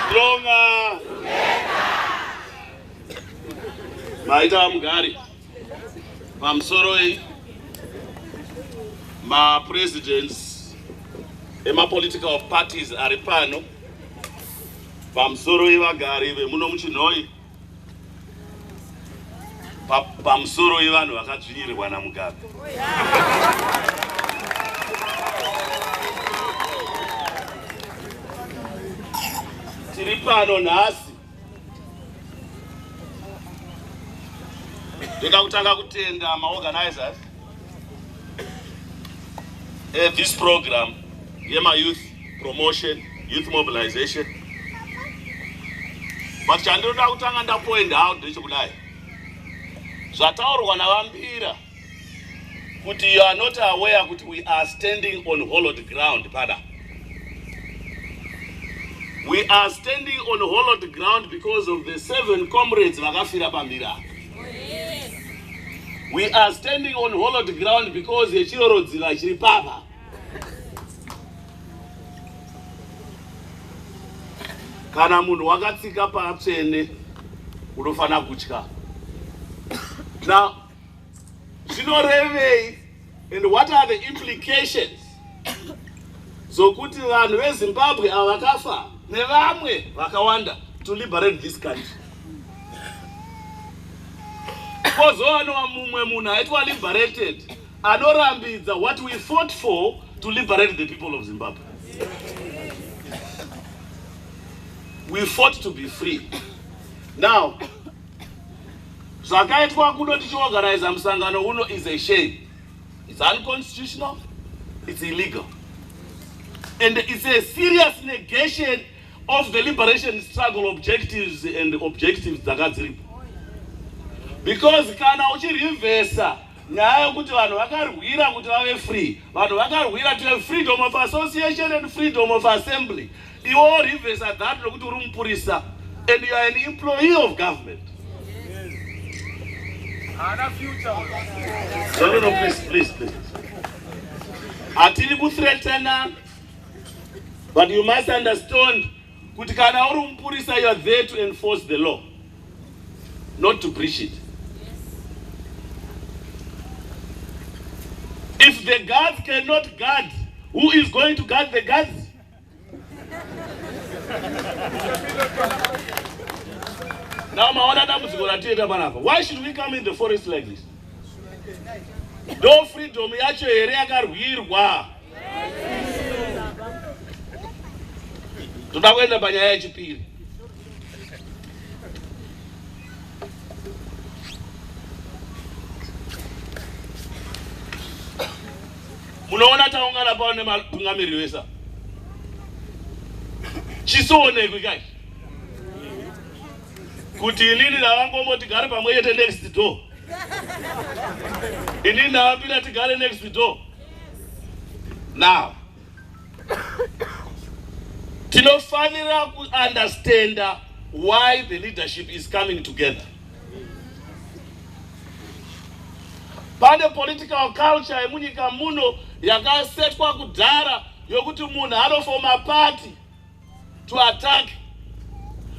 Stronger. Maita vamugari pamusoro iyi mapresidents emapolitical parties ari pano pamusoro ivagari vemuno muchinhoi pamusoro wevanhu vakadzvinyirirwa namugabe tiri pano nhasi ndoda kutanga kutenda maorganizers Uh, this program yema youth promotion youth mobilization but chandinoda kutanga ndapoint out ndechekudai zvataurwa navambira kuti you are not aware kuti we are standing on hollowed ground pada we are standing on hollowed ground because of the seven comrades vakafira pambira We are standing on hollowed ground because yechirorodzira chiri papa. Kana munhu wakatsika patsvene unofanira kutya. Now, zvinorevei And what are the implications zokuti vanhu vezimbabwe ava vakafa nevamwe vakawanda to liberate this country kozowanowa mumwe munhu aitwa liberated anorambidza what we fought for to liberate the people of zimbabwe we fought to be free now zvakaitwa kuno tichiorganiza musangano uno is a shame it's unconstitutional it's illegal and it's a serious negation of the liberation struggle objectives and objectives dzanga dziripo because kana uchirivhesa nyaya yokuti vanhu vakarwira kuti vave free vanhu vakarwira to have freedom of association and freedom of assembly Iwo reverse that lokuti uri mupurisa and you are an employee of government. Haana future. No, no, no, please, please, please. Hatiri kuthreatana, but you must understand kuti kana uri mupurisa you are there to enforce the law, not to breach it. If the guards cannot guard, who is going to guard the guards? Now maona dambudziko ratienda panapa. Why should we come in the forest like this? Do freedom yacho here yakarwirwa? Toda kuenda panyaya yechipiri. Munoona taungana pano nematungamiriri vesa chisionekwi kai kuti inini ndavangombo tigare pamwe chete next door inini ndavapinda tigare next door now tinofanira kuunderstanda why the leadership is coming together pane political culture yemunyika muno yakasetwa kudhara yokuti munhu anofoma party to attack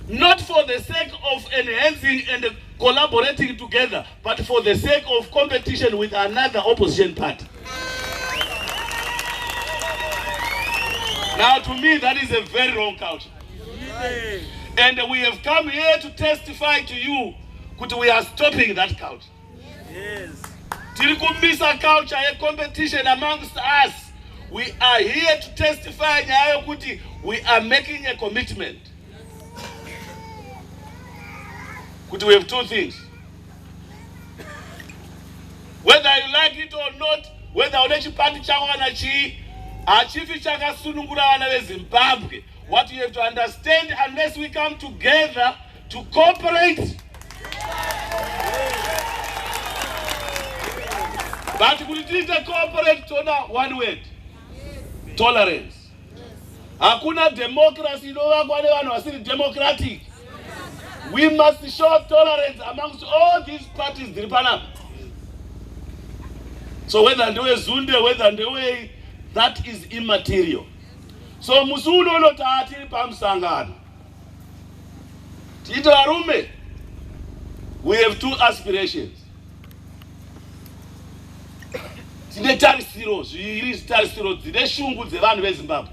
not for the sake of enhancing and collaborating together but for the sake of competition with another opposition party now to me that is a very wrong culture And we have come here to testify to you kuti we are stopping that culture. Yes. Tiri kumisa culture ye competition amongst us. We are here to testify nyaya yokuti we are making a commitment. Kuti we have two things. Whether you like it or not, whether une chipandi chako kana chii, hachifi chakasunungura vana veZimbabwe. What you have to understand, unless we come together to cooperate. But kuti tiite cooperate toda one word. Tolerance. Hakuna democracy inovakwa nevanhu vasiri democratic. We must show tolerance amongst all these parties dziri panapa. So whether ndewe Zunde, whether ndewe that is immaterial. so musi uno uno taa tiri pamusangano tiite varume we have two aspirations tine tarisiro zviri zitarisiro dzine shungu dzevanhu vezimbabwe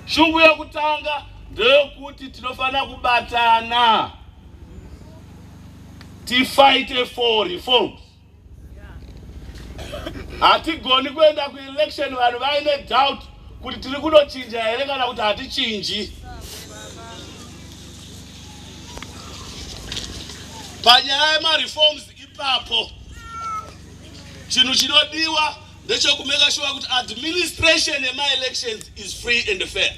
shungu yokutanga ndeyokuti tinofanira kubatana tifighte for reforms hatigoni kuenda kuelection vanhu vaine doubt kuti tiri kunochinja here kana kuti hatichinji panyaya yemareforms ipapo chinhu chinodiwa ndechekumeka shuwa kuti administration yemaelections is free and fair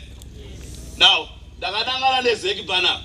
now ndakanangana nezeki panapa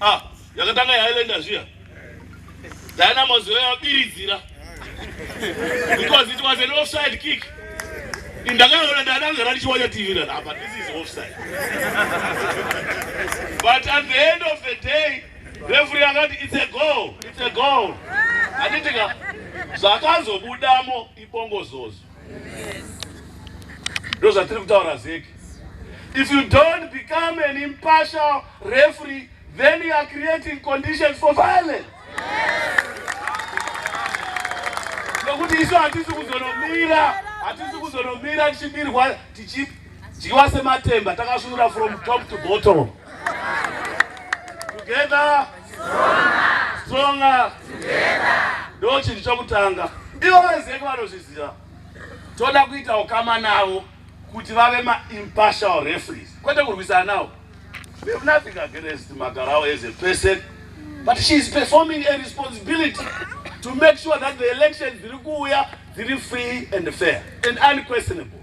Ah, yakatanga yailenda zviya. Dynamos yabiridzira. Because it was an offside kick. Ndakaona ndakanga randichiwanya TV ra apa this is offside. But at the end of the day, referee akati it's a goal, it's a goal. Anditika zvakazobudamo ibongozozo. ndozvatiri kutaura zeki if you don't become an impartial referee then you are creating conditions for violence nokuti isu hatisi kuzonomira hatisi kuzonomira tichibirwa tichidyiwa sematemba takasvunura from top to bottom together stronger ndo chinhu chokutanga ivo vezeki vanozviziva toda kuita ukama navo kuti vave maimpartial referees kwete kurwisana navo we have nothing against magarao as a person but she is performing a responsibility to make sure that the elections dziri kuuya dziri free and fair and unquestionable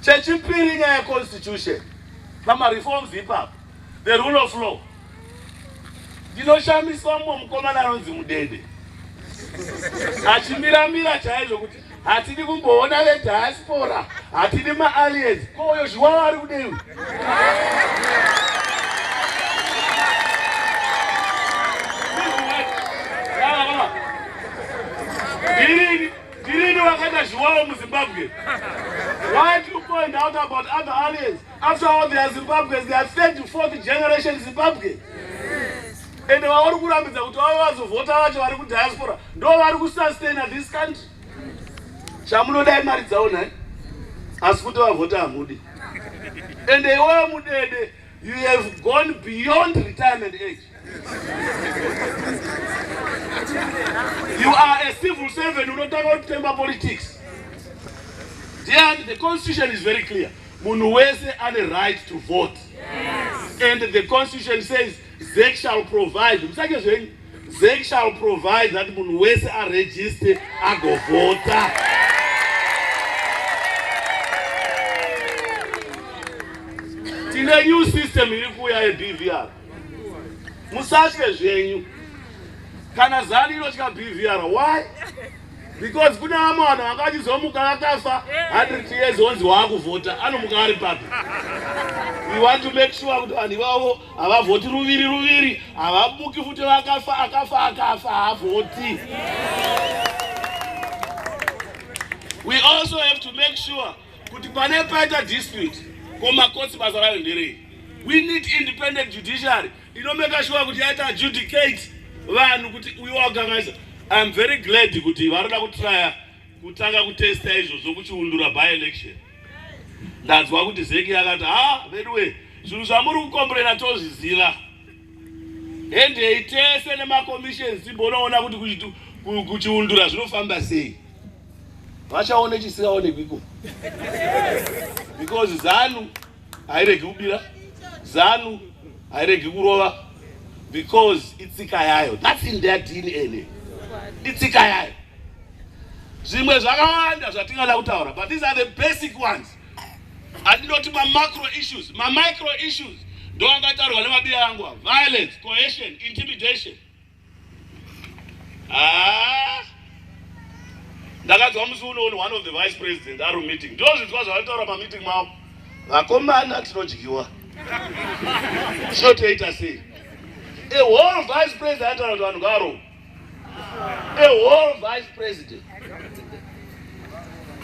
chechipiri nyaya yeconstitution pamareforms ipapo the rule of law ndinoshamiswa mumwe mukomana anonzi mudede achimiramira chaizvo kuti hatidi kumboona vediaspora hatidi maaliens kouyo zviwawa ari kudei ndirini wakaita zviwawa muzimbabwe why do you point out about other aliens After all they are Zimbabweans, they are third to fourth generation Zimbabwe. And vaori kurambidza kuti vave vazovhota vacho vari kudiaspora ndo vari kusustaina this country. Chamunodai mari dzavo nhai asi kuti vavhota hamudi. And iwewe mudede you have gone beyond retirement age. You are a civil servant unotanga kutemba politics. Dear, the constitution is very clear. Munhu wese ane right to vote. Yes. And the constitution says ZEC shall provide. Musake zvenyu. ZEC shall provide that munhu wese aregister agovhota. Tine new system iri kuuya yeBVR. musatye zvenyu kana zani inotya bvr why because kune vamwe vanhu vanga vachizomuka vakafa 100 years onzi waakuvhota anomuka ari papi we want to make sure kuti vanhu ivavo havavhoti ruviri ruviri havabuki futi vakafa akafa akafa haavhoti we also have to make sure kuti pane paita dispute komakotsi basa rayo nderei We need independent judiciary inomeka shuwa kuti yaita adjudicate vanhu kuti uyu wagangaisa. I am very glad kuti varada kutraya kutanga kutesta izvozvo kuchiundura by election. Ndanzwa kuti Zeki yakati ha veduwe zvinhu zvamuri kukomburena tozviziva endei tese nemacommissions timbonoona kuti kuchiundura zvinofamba sei vachaone chisikaonekwi iko because zanu hairegi kubira zanu hairegi kurova because itsika yayo thats in their dna itsika yayo zvimwe zvakawanda zvatingada kutaura but these are the basic ones andinoti mamacro issues mamicro issues ndoangataurwa nemabiya yangu violence cohesion intimidation Ah! ndakanzwa musi unooni one of the vice president ari mumeeting ndozvinzwa zvavataura pameeting mavo vakomana tinodyiwa tinotoita sei a whole vice president ataura kuti vanhu ngavarohwa a whole vice president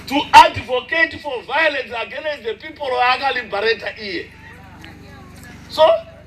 to advocate for violence against the people vaakalibarata iye so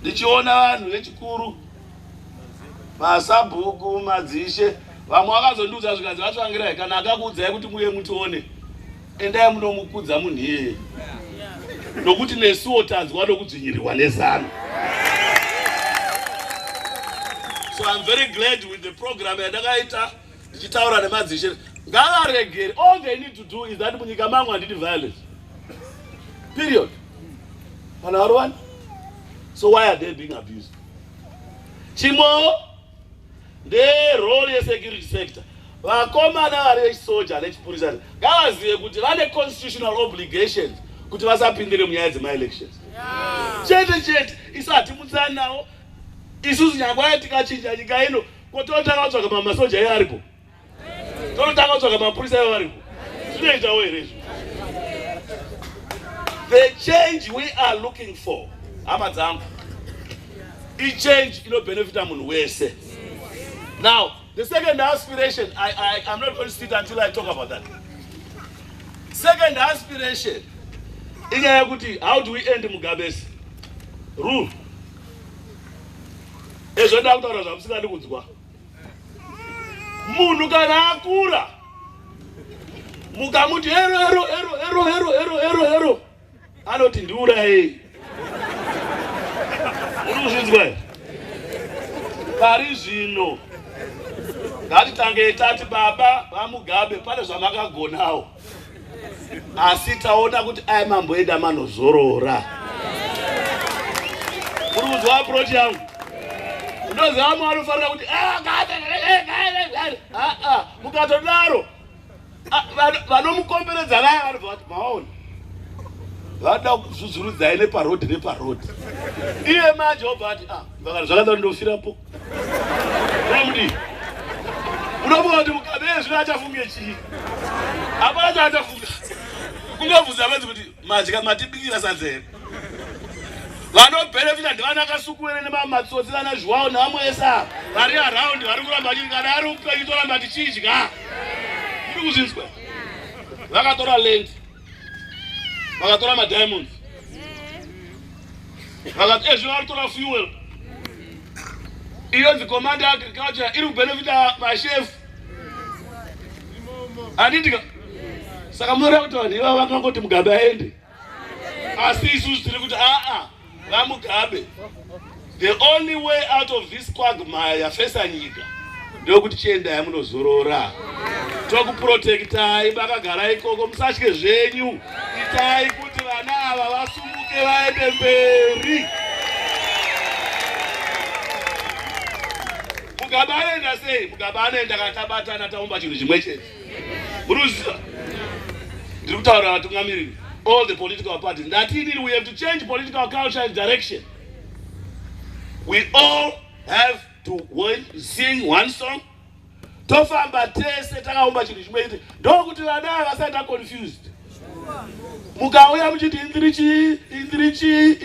ndichiona vanhu vechikuru masabhuku madzishe vamwe vakazondiudza zvikanzi vatsvangirai kana akakuudzai kuti muye mutione endai munomukudza munhu iyeye nokuti nesuwo tanzwa nokudzvinyirirwa nezano so iam very glad with the program yandakaita ndichitaura nemadzishe ngavaregere all they need to do is that munyika mangu handidi violence period kana varovani so why are they being abused chimwewo nderole yesecurity sector vakomana vari vechisoja nechipurisa ngavazive kuti vane constitutional obligations kuti vasapindire munyaya dzemaelections chete chete isati mutsanawo isusu nyangwaya tikachinja nyika ino Ko tonotanga kutsvaga ma- masoja ayo aripo? Tonotanga kutsvaga mapurisa ayo aripo? Zvinoitawo here izvo? The change we are looking for, hama dzangu, ichange inobenefita munhu wese. Now, the second aspiration, I, I, I'm not going to sit until I talk about that. Second aspiration, inyaya yekuti how do we end Mugabe's rule? Ezvo ndakutaura zvamusingadi kunzwa. Munhu kana akura mukamuti ero ero ero ero ero ero ero ero anoti ndiurayei. Muri kuzvinzwa here? Pari zvino ngatitange tati baba vaMugabe pane zvamakagonawo. asi taona kuti aya mambo edu amanozorora muri kuziva aproach yangu ndoziva amwe anofanira kuti ah, ah, ah, mukatodaro vanomukomberedza vaya vanobva vati maona vada kuzvuzvurudzai neparodi neparodi iye manje obva ati ah, vakana zvakadaro ndofirapo Raundi. Unofunga kuti mukadzi zvino achafunge chii? Hapana chaachafunga. Kungobvunza vanzi kuti madya matibikira sadza here? vanobenefita ndivana akasukuwere nemamatsotsi vana zviwawo nevamwe ese ava vari araundi vari kuramba vachiti kana ari upenyu toramba tichidya muri kuzvinzwa vakatora lendi vakatora madiamonds vakati ezvino eh, varitora fuel iyonzi command yeagriculture iri kubenefita mashefu anditika saka munoreva kuti vanhu ivavo vakangoti mugabe aende asi isusu tiri kuti aa VaMugabe, the only way out of this quagmire yafesa nyika ndokuti chiendai munozorora tokuprotektai makagara ikoko musatye zvenyu itai kuti vana ava vasumuke vaende mberi mugabe anoenda sei mugabe anoenda kana tabatana taumba chinhu chimwe chete muruziva ndiri kutaura vatungamiriri all the political parties ndati inini we have to change political culture and direction we all have to sing one song tofamba tese takaumba chinhu chimwe chete ndokuti vana havasati aconfused mukauya muchiti indiri chii indiri chii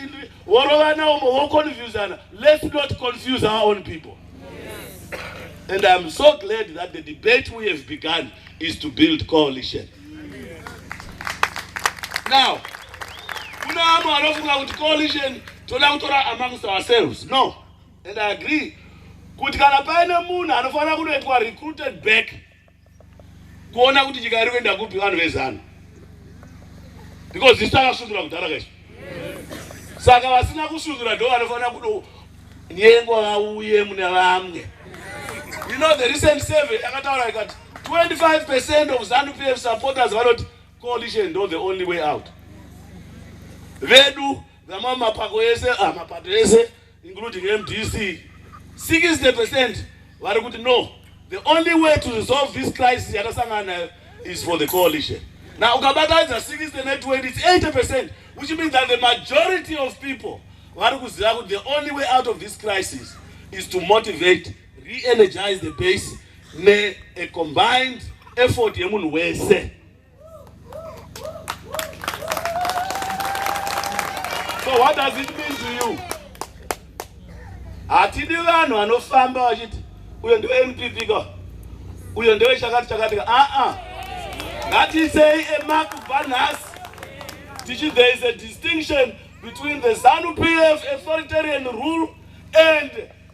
vorovana umo voconfusana let's not confuse our own people And I'm so glad that the debate we have begun is to build coalition. Now, kuna amwe anofunga kuti coalition toda kutora amongst ourselves. No. And I agree kuti kana paine munhu anofanira kunoitwa recruited back kuona kuti nyika iri kuenda kupi vanhu vezanu because isu takasundura kudhara kaizvo saka vasina kusundura ndo vanofanira kudo nyengo vauye mune vamwe you know the recent survey yakataura ikati 25 percent of zanu pf supporters vanoti coalition ndo the only way out vedu vamwe mapako ese ah, mapato ese including mdc 60% vari kuti no the only way to resolve this crisis yatasangana nayo is for the coalition now ukabatadza 60 ne 20 it's 80% which means that the majority of people vari kuziva kuti the only way out of this crisis is to motivate re-energize the base ne a combined effort yemunhu wese So what does it mean to you? Hatidi vanhu vanofamba vachiti uyo ndiwe NPP ka uyo ndiwe chakati chakati ka aa ah, ah. ngatisei emark kubva nhasi tichi there is a distinction between the Zanu PF authoritarian rule and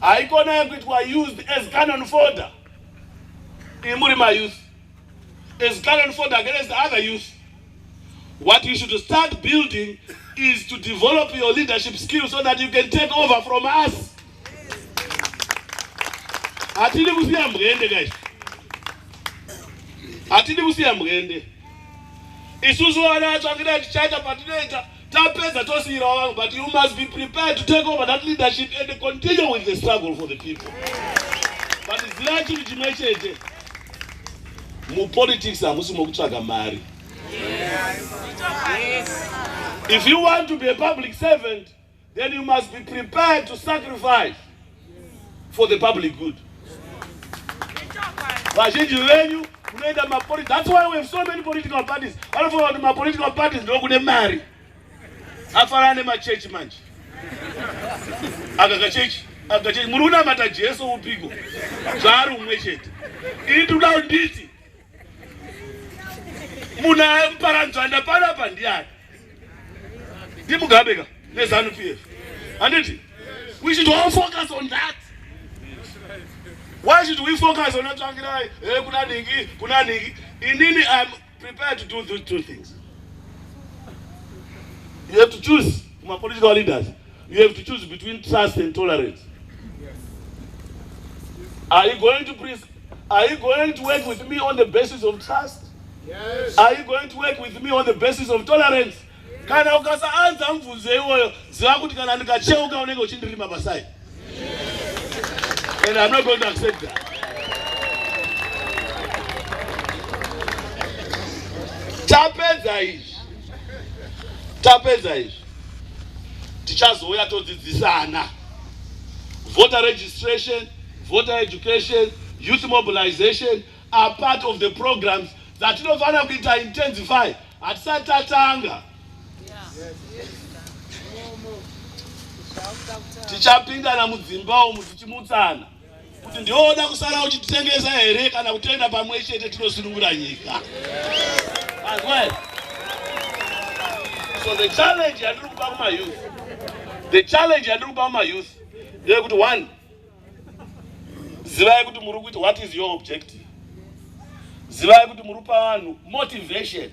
haikona yekuitwa used as canon folder imuri mayouth as canon folder against other youth what you should start building is to develop your leadership skills so that you can take over from us hatidi kusiya mbwende guys hatidi kusiya mbwende isusu vana vatsvakira tichaita patinoita Tapedza tosiyira vanhu but you must be prepared to take over that leadership and continue with the struggle for the people. But zivai chinhu chimwe chete. Mupolitics hamusi mokutsvaga mari. Yes. Yes. If you want to be a public servant, then you must be prepared to sacrifice for the public good vazhinji venyu munoenda mapoli that's why we have so many political parties vanofunga kuti mapolitical parties ndo kune mari afanana nemachechi manje akakachechi akachechi muri kunamata jesu upiko zvaari umwe chete ini tikuda kunditi munhu amparanzvanda panapa ndiani ndimugabe ka nezanu p f handiti we should all focus on that why should we focus on atsvangirai e eh, kuna ningi kuna ningi inini im prepared to do those two things you have to choose mapolitical leaders you have to choose between trust and tolerance are you going to please are you going to work with me on the basis of trust yes. are you going to work with me on the basis of tolerance kana ukasaanza mvunzo iwoyo ziva kuti kana ndikacheuka unenge uchindirima pasai and i'm not going to accept that tapedza izvi tapedza izvi tichazouya todzidzisana voter registration voter education youth mobilization are part of the programs dzatinofanira kuita intensify hatisati tatanga tichapindana mudzimba umu tichimutsana kuti ndooda kusara uchititengesa here kana kutoenda pamwe chete tinosunungura nyika so the challenge yandiri kupa kumayouth the challenge yandiri kupa kumayouth ndeyekuti one zivai kuti muri kuita what is your objective zivai kuti muri kupa vanhu motivation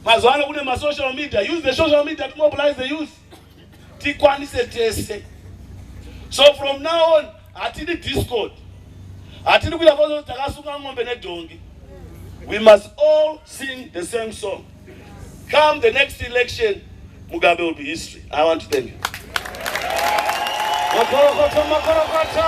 mazuva ano kune masocial media use the social media to mobilize the youth tikwanise tese so from now on hatidi discord hatidi kuita kuti takasunga ng'ombe nedhongi we must all sing the same song come the next election mugabe will be history i want to thank you makorokoto makorokoto